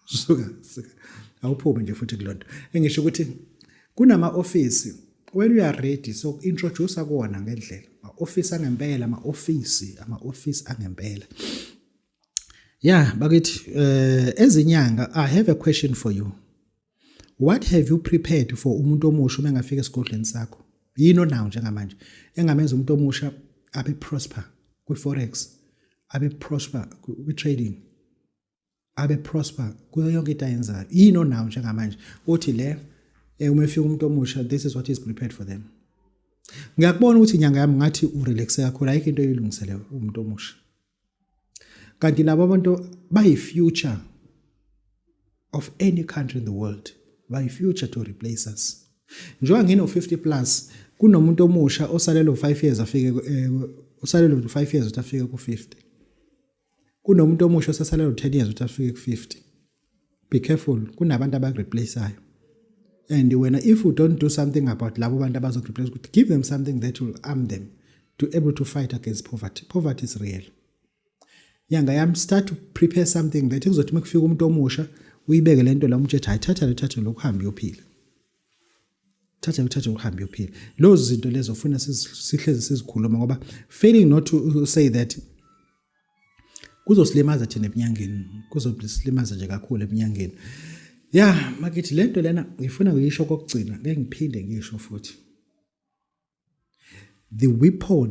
suka suka awuphume nje futhi kulonto engisho ukuthi kunama office when we are ready so introduce kuona ngendlela ma office angempela ama office ama office angempela yeah bakithi eh ezinyanga i have a question for you what have you prepared for umuntu omusha uma engafika esigodlweni sakho yini onawo njengamanje engamenza umuntu omusha abe prosper kwi forex abe prosper kwi trading abe prosper kuyo yonke into ayenzayo yini onawo njengamanje uthi le eh, uma efika umuntu omusha this is what is prepared for them ngiyakubona ukuthi inyanga yami ngathi urelaxe kakhulu ayikho into eyilungisele umuntu omusha kanti labo abantu bayi-future of any country in the world bayi-future to replace us njengoba ngino-50 plus kunomuntu omusha osalelo 5 years afike eh, osalelo 5 years ukuthi afike ku-50 kunomuntu omusha osasala lo 10 years ukuthi afike ku 50 be careful kunabantu abakureplaceayo and wena if you don't do something about labo bantu abazokureplace ukuthi give them something that will arm them to able to fight against poverty poverty is real nyanga yami start to prepare something that kuzothi makufika umuntu omusha uyibeke lento la umtshetha ayithatha lethathe lokho hambe uyophila thatha uthathe uhambe uyophila lozo zinto lezo ufuna sihlezi sizikhuluma ngoba failing not to say that kuzosilimaza thina ebunyangeni kuzosilimaza nje kakhulu ebunyangeni ya makithi le nto lena ngifuna ngiyisho kokugcina ngeke ngiphinde ngisho futhi the weapon